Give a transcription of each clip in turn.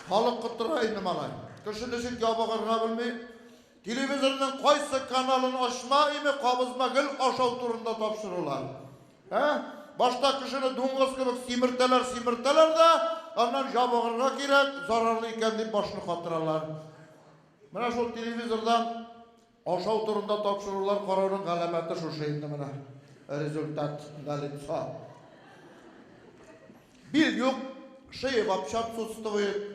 Халык коттыра инде малай. Кеше ничек ябыгырга белми. Телевизорның кайсы каналын ачма име кабызма гел ашау турында тапшырулар. Ә? Башта кешене дуңгыз кебек симертәләр, симертәләр дә, аннан ябыгырга кирәк, зарарлы икән дип башны катыралар. Менә шул телевизордан Ашау турында тапшырулар карауның галәмәте шушы инде менә. Результат налицо. Бил юк, шея вообще отсутствует.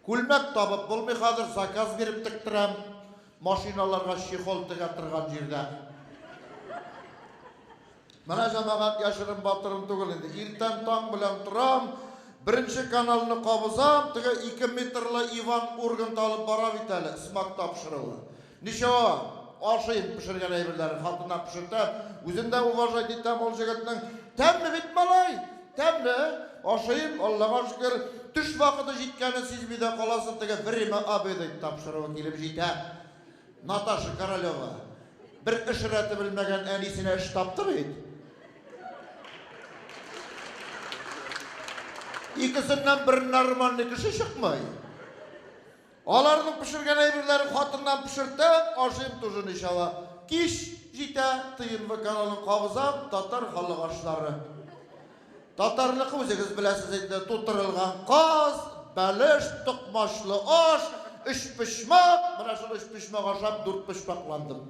Күлмәк табып булмый хәзер, заказ биреп тектерәм. Машиналарга чехол тегә торган җирдә. Менә җәмәгать яшерен батырым түгел инде. Иртән таң белән торам, беренче каналны кабызам, теге ике метрлы Иван Ургант алып бара бит әле, смак тапшыруы. Ничего, ашыйм пешергән әйберләрен, хатыннар пешертә, үзен дә уважать итәм ул җегетнең. Тәмле бит, малай, тәмле, ашыйм, Аллага шөкер. Төш вакыты җиткәнен сизми дә каласың, теге время обеда тапшыруы килеп җитә. Наташа Королева, бер эш рәте белмәгән әнисенә эш тапты бит. Икесеннән бер нормальный кеше чыкмый. Аларның пешергән әйберләрен хатыннан пешертәм, ашыйм тоже ничава. Кич җитә, ТНВ каналын кагызам, татар халык ашлары. Татарныкы үзегез беләсез инде, тутырылган каз, бәлеш, токмачлы аш, өчпочмак, менә шул өчпочмак ашап дүртпочмакландым.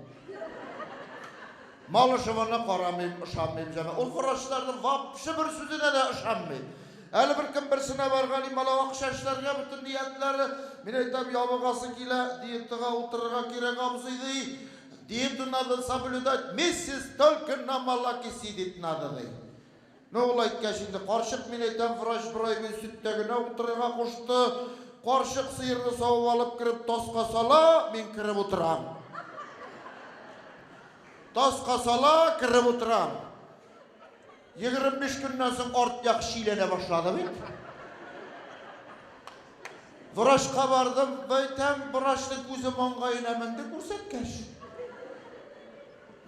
Малышеваны карамыйм, ышанмыйм җана. Ул врачларның вообще бер сүзенә дә ышанмый. Әле бер кем берсенә барган и мала акча эшләргә бөтен ниятләре. Мин әйтәм, ябыгасы килә, диетага утырырга кирәк абзый ди. Диету надо соблюдать, миссис, только на молокиси дип надо ди. Менә ул әйткәч инде, карчык, мин әйтәм, врач бер ай буе сөттә генә утырырга кушты. Карчык сыерны савып алып кереп таска сала, мин кереп утырам. Таска сала, кереп утырам. 25 көннән соң арт як шиләнә башлады бит. Врачка бардым, әйтәм, врачның күзе маңгаена менде күрсәткәч.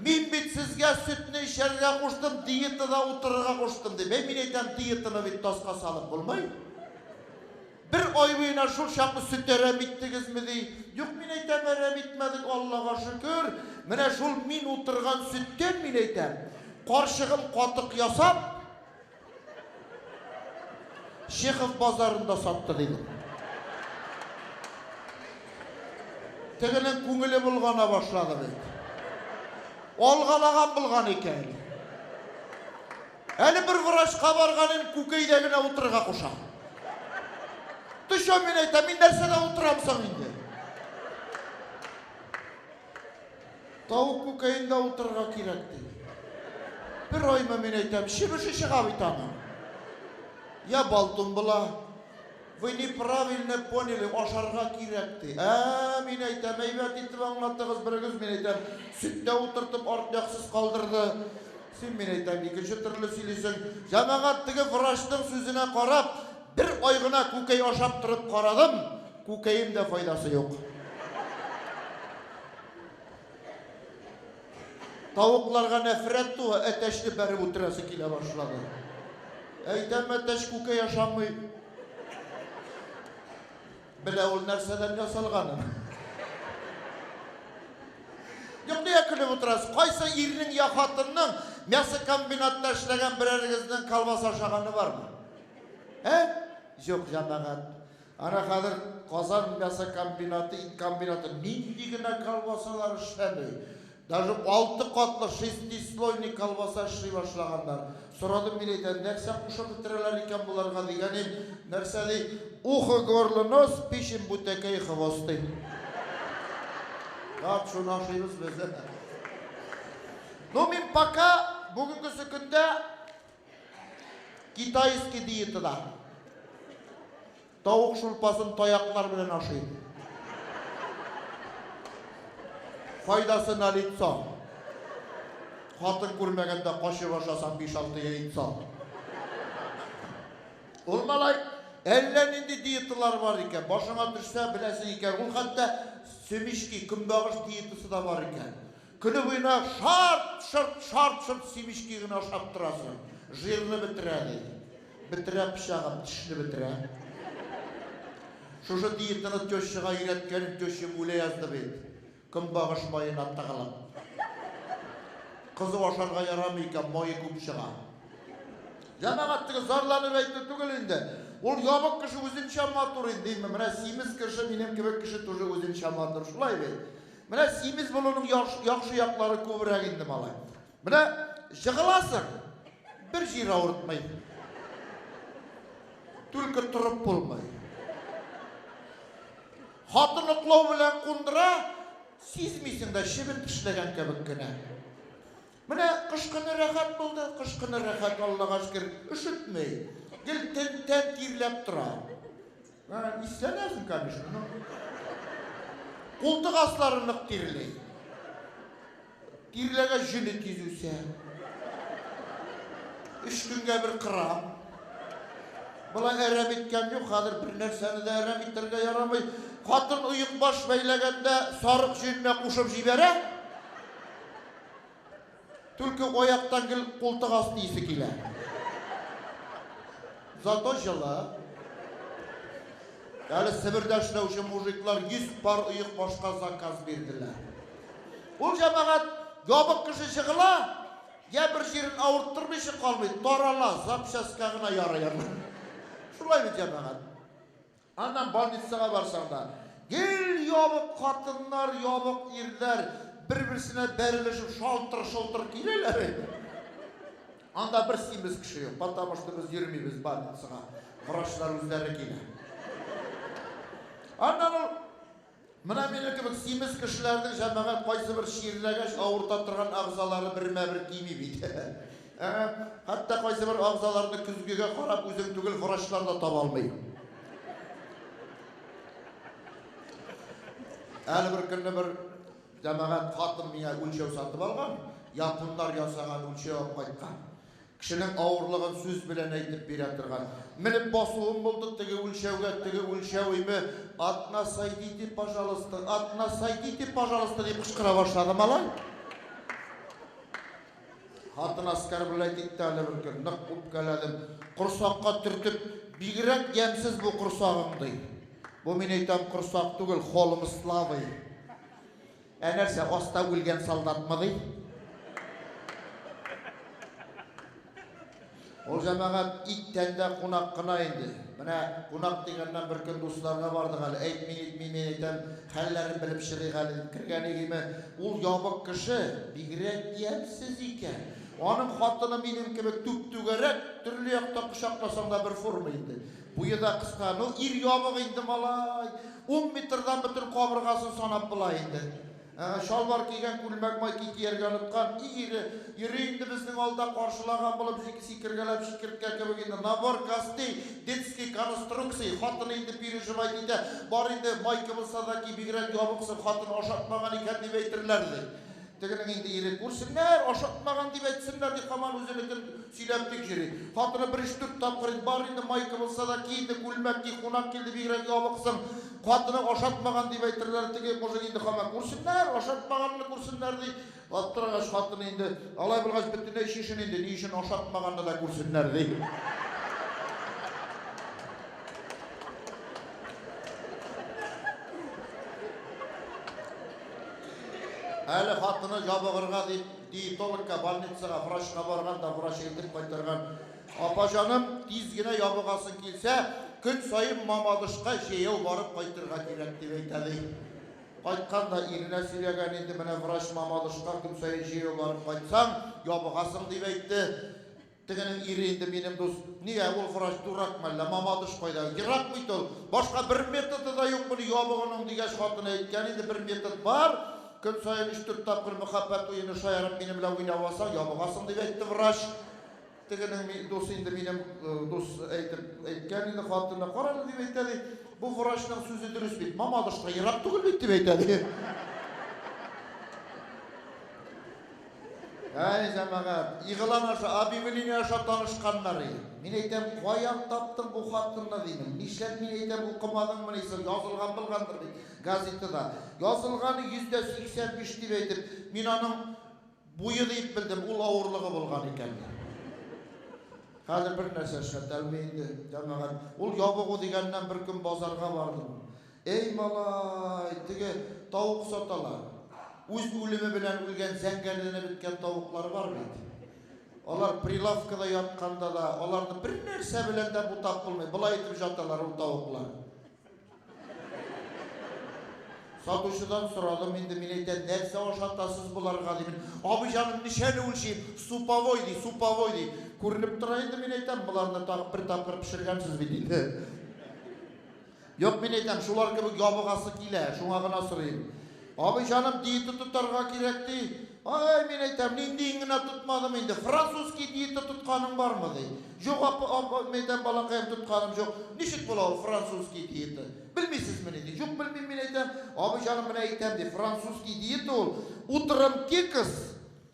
Мин бит сезгә сөтне эчәргә куштым, диетада утырырга куштым, дип. Әй, мин әйтәм, диетаны бит таска салып булмый. Бер ай буена шул чаклы сөт әрәм иттегезме, ди. Юк, мин әйтәм, әрәм итмәдек, Аллага шөкер. Менә шул мин утырган сөттән, мин әйтәм, карчыгым катык ясап, Чехов базарында сатты, ди бу. Тегенең күңеле болгана башлады бит. Алгалаган булган икән. Әле бер врачка барганым, күкәйдә генә утырырга куша. Төшә мин әйтә, мин нәрсәдә утырам соң инде? Тавык күкәенда утырырга кирәк, ди. Бер айма мин әйтәм, чебеше чыга бит аның. Я бал тумбыла. Вы неправильно поняли, ашарга кирәк, ди. Ә, мин әйтәм, әйбәт итеп аңлатыгыз берегез, мин әйтәм, сөттә утыртып арт яксыз калдырды. Син мин әйтәм, икенче төрле сөйлисең. Җәмәгать теге врачның сүзенә карап, бер ай гына күкәй ашап торып карадым. Күкәем дә файдасы юк. Тавыкларга нәфрәт туа, әтәчне бәреп үтерәсе килә башлады. Әйтәм, әтәч күкәй яшамый. Белә ул нәрсәдән ясалганын. Юк, нигә көлеп утырасыз? Кайсы ирнең я хатынның мясо комбинатта эшләгән берәрегезнең колбаса ашаганы бармы? Ә? Юк, җәмәгать. Ана хәзер Казан мясо комбинаты, ит комбинаты нинди генә колбасалар эшләми. Даже алты катлы шестислойный колбаса эшли башлаганнар. Сорадым мин әйтәм, нәрсә кушып бетерәләр икән боларга дигәнем, нәрсә ди, ухо горло нос, печень бутәкәй хвост ди. Раб шуны ашыйбыз без. Ну мин пока бүгенге көндә Китайский диетада тавык шулпасын таяклар белән ашыйм. Файдасы на лицо. Хатын күрмәгәндә качып ашасаң биш-алты яйцо. Ул малай әллә нинди диеталар бар икән. Башыңа төшсә, беләсең икән. Ул хәтта семечки, көнбагыш диетасы да бар икән. Көне буена шарт-шорт, шарт-шорт сибички генә ашап торасың. Жирны бетерә, ди. Бетерә пычагым, тешне бетерә. Шушы диетаны тещага өйрәткәнем, тещам үлә язды бит. Көнбагыш маена тыгылып. Кызу ашарга ярамый икән, мае күп чыга. Җәмәгать, теге зарланып әйтү түгел инде. Ул ябык кеше үзенчә матур инде, менә симез кеше, минем кебек кеше тоже үзенчә матур, шулай бит. Менә симез булуның яхшы, яхшы яклары күбрәк инде, малай. Менә җыгыласың, бер җир авыртмый. Түлке торып булмый. Хатын уклау белән кундыра, сизмисең дә чебен тешләгән кебек кенә. Менә кыш көне рәхәт булды, кыш көне рәхәт, Аллага шөкер, өшетмей. Гел тен тән тирләп тора. Ә, иссәнәсең, конечно, но... Култык аслары нык тирләй. Тирләгә җөне тиз үсә. Өч көнгә бер кырам. Болай әрәм иткән юк, хәзер бер нәрсәне дә әрәм итәргә ярамый. Хатын оек баш бәйләгәндә сарык җөененә кушып җибәрә. Түлке аяктан гел култык асты исе килә. Зато җылы. Әле Себердә эшләүче мужиклар 100 пар оек башка заказ бирделәр. Ул җәмәгать ябык кеше җыгыла, я бер җирен авырттырмыйча калмый, тарала, запчастька гына ярый аннан. Шулай бит, җәмәгать. Аннан больницага барсаң да, гел ябык хатыннар, ябык ирләр бер-берсенә бәрелешеп шалтыр-шолтыр киләләр инде. Анда бер симез кеше юк, потому что без йөрмибез больницага, врачлар үзләре килә. Аннан ул Менә минем кебек симез кешеләрнең җәмәгать кайсыбер чирләгәч авырта торган әгъзалары бермә-бер кими бит. Ә-ә, хәтта кайсыбер әгъзаларны көзгегә карап үзең түгел врачлар да таба алмый. Әле бер көнне бер җәмәгать хатын миңа үлчәү сатып алган, японнар ясаган үлчәү алып кайткан. Кешенең авырлыгын сүз белән әйтеп бирә торган. Менеп басуым булды, теге үлчәүгә, теге үлчәү име, одна сойдите, пожалуйста, одна сойдите, пожалуйста, дип кычкыра башлады малай. Хатын оскорблять итте әле бер көн, нык үпкәләдем. Корсакка төртеп, бигрәк ямьсез бу корсагың, ди. Бу, мин әйтәм, корсак түгел, холм славы. Ә нәрсә, аста үлгән солдатмы ди? Ул җәмәгать ит тәндә кунак кына инде. Менә кунак дигәннән бер көн дусларына бардык әле. Әйтми-нитми мин әйтәм, хәлләрен белеп чыгыйк әле дип кергән игеме, ул ябык кеше, бигрәк ямьсез икән. Аның хатыны минем кебек түп-түгәрәк, төрле яктан кочакласаң да бер форма инде. Буе да кыска, ну ир ябык инде малай, ун метрдан бөтен кабыргасын санап була инде. Ә-ә, чалбар кигән, күлмәк майки кияргә оныткан, и ире, йөри инде безнең алда каршылаган булып сик, сикергәләп чикерткә кебек инде, набор костей, детский конструкция, хатыны инде переживать итә, бар инде, майка булса да ки, бигрәк ябыксың, хатын ашатмаган икән дип әйтерләр, ди. Тегенең инде ире, күрсеннәр, ашатмаган дип әйтсеннәр, дип һаман үзенекен сөйләп тик йөри. Хатыны бер өч-дүрт тапкыр инде, Бар инде, майка булса да ки инде, күлмәк ки, кунак килде, бигрәк ябыксың, хатының ашатмаган дип әйтерләр, теге мужик инде һаман, Күрсеннәр, ашатмаганны күрсеннәр, ди. Аптырагач, хатыны инде, Алай булгач, бөтенләй чишен инде, ни өчен ашатмаганны да күрсеннәр, ди. Әле хатыны җабыгырга дип диетологка, больницага, врачка барган да врач әйтеп кайтарган. Апа җаным, тиз генә ябыгасың килсә, көн саен Мамадышка җәяү барып кайтырга кирәк, дип әйтә ди. Кайткан да иренә сөйләгән инде, менә врач Мамадышка көн саен җәяү барып кайтсаң, ябыгасың дип әйтте. Тегенең ире инде минем дус. Нигә, ул врач дуракмы әллә? Мамадыш кайда? Ерак бит ул. Башка бер методы да юк моны ябыгуның, дигәч, хатыны әйткән инде, бер метод бар, көн саен өч-дүрт тапкыр мөхәббәт уены шаярып минем белән уйнап алсаң, ябыгасың, дип әйтте врач. Тегенең дус инде минем дус, әйтеп әйткән инде хатыны. Карале, дип әйтә, ди. Бу врачның сүзе дөрес бит. Мамадыш та ерак түгел бит, дип әйтә, ди. Әй, җәмәгать, игълан аша, объявление аша танышканнар и. Мин әйтәм, каян таптың бу хатынны, димем. Нишләп, мин әйтәм, укымадыңмыни соң, язылган булгандыр бит газетада. Язылган, 185 дип әйтеп, мин аның буе дип белдем, ул авырлыгы булган икән. Хәзер бернәрсә эшләтә алмый инде, җәмәгать. Ул ябыгу дигәннән беркөн базарга бардым. Әй, малай, теге тавык саталар. Үз үлеме белән үлгән зәңгәрләнә беткән тавыклар бар бит. Алар прилавкада ятканда да, аларны бер нәрсә белән дә бутап булмый. Болай итеп жаталар ул тавыклар. Сатучыдан сорадым, инде мин әйтәм, нәрсә ашатасыз боларга дим. Абый җаным, ничәне үлчим? Суповой ди, суповой ди. Күренеп тора инде мин әйтәм, боларны тагы бер тапкыр пешергәнсез бит инде. Юк, мин әйтәм, шулар кебек ябыгасы килә, шуңа гына сорыйм. Абый җаным, диета тотарга кирәк, ди. Ай, мин әйтәм, ниндиен генә тотмадым инде. Французский диета тотканың бармы, ди. Юк, апа, апа, мин әйтәм, балакаем, тотканым җук. Ничек була ул французский диета? Белмисезмени, ди. Юк, белмим, мин әйтәм. Абый җаным, менә әйтәм, ди, французский диета ул, утром кекс,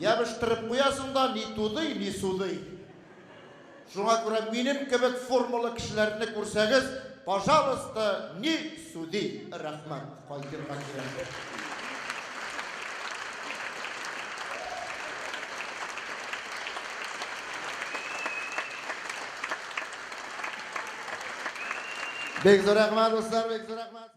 Ябыштырып куясың да ни тудый, ни судый. Шуңа күрә минем кебек формалы кешеләрне күрсәгез, пожалуйста, ни суди. Рәхмәт, кайтырга кирәк. Бик зур рәхмәт, дуслар, бик зур рәхмәт.